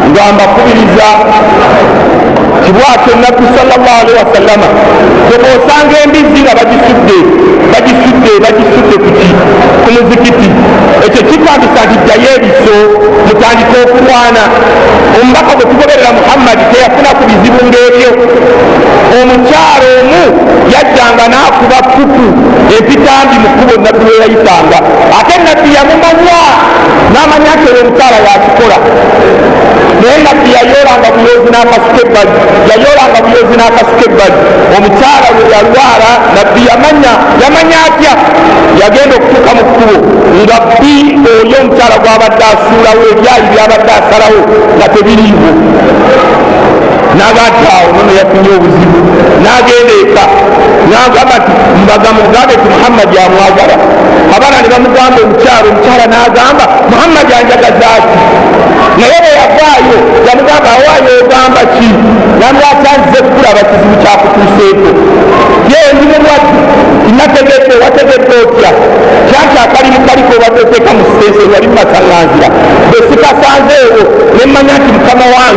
nga mbakubiriza kibwatyo nabbi salllah alihi wasallama geba osanga embizzi nga bagisudde bagisudde bagisudde kuki ku muzikiti ekyo kipangisa nti ddayo ebiso mutandika okulwana omubaka gwe tugoberera muhammadi teyafuna ku bizibu ngaebyo omukyalo omu yajjanga n'akuba kuku epitambi mu kkubo nabbi we yayitanga ate nabbi yamumanya n'amanya nti olwo omukyala yakikola naye nabbi yayoolanga buyoozi n'akasuka ebbali yayoolanga buyoozi n'akasuka ebbali omukyala we yalwala nabbi yamanya yamanya atya yagenda okutuuka mu kkubo nga bbi oyo omukyala gwabadde asuulawo ebyayi byabadde asalawo nga tebiriiwo nagatta awo nono yafunye obuzibu nagenda eka nagamba ti mbaga mugambe ti muhammadi amwagala abaana ne bamugamba omukyalo omukyala nagamba muhammadi anjagazaaki naye bweyavaayo yamugamba awaayo ogamba ki namwakyazze kulaba kizibu kyakutuuseeko ye ndi mulwadde inategedde wategedde otya kyaki akalimu kaliko obateteeka mu siteeseni wali mumasalanzira bwesikasanzeewo nemmanya nti mukama wange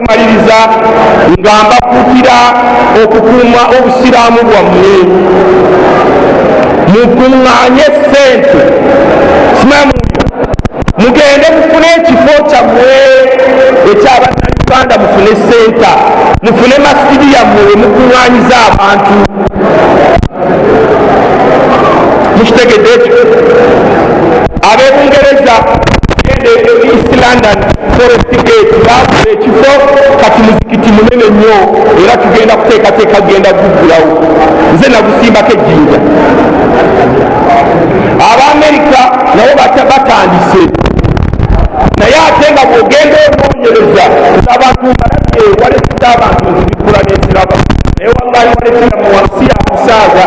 okumaliriza nga mbakuutira okukuuma obusiraamu bwammwe mukuŋŋaanye ssente simamu mugende mufune ekifo kyammwe ekyabannayuganda mufune senta mufune masijidi yammwe wemukuŋŋaanyiza abantu mukitegedde ekyo abebungereza gende east london forest gate baafuna ekifo kati muzikiti munene nnyo era tugenda kuteekateeka genda guggulawo nze nagusimbako ejjinja abaamerika nabo batandise naye ate nga bwogenda onoonyereza abantu mbalabye waleeza abantu nzibikula nenziraba naye wallahi waletera mu wansi yakusaaga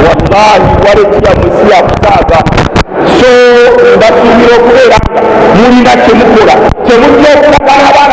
wallahi waletera mu nsi yakusaaga so mbasuubira okubeera nga mulina kyemukola kyemujja okulaga abaana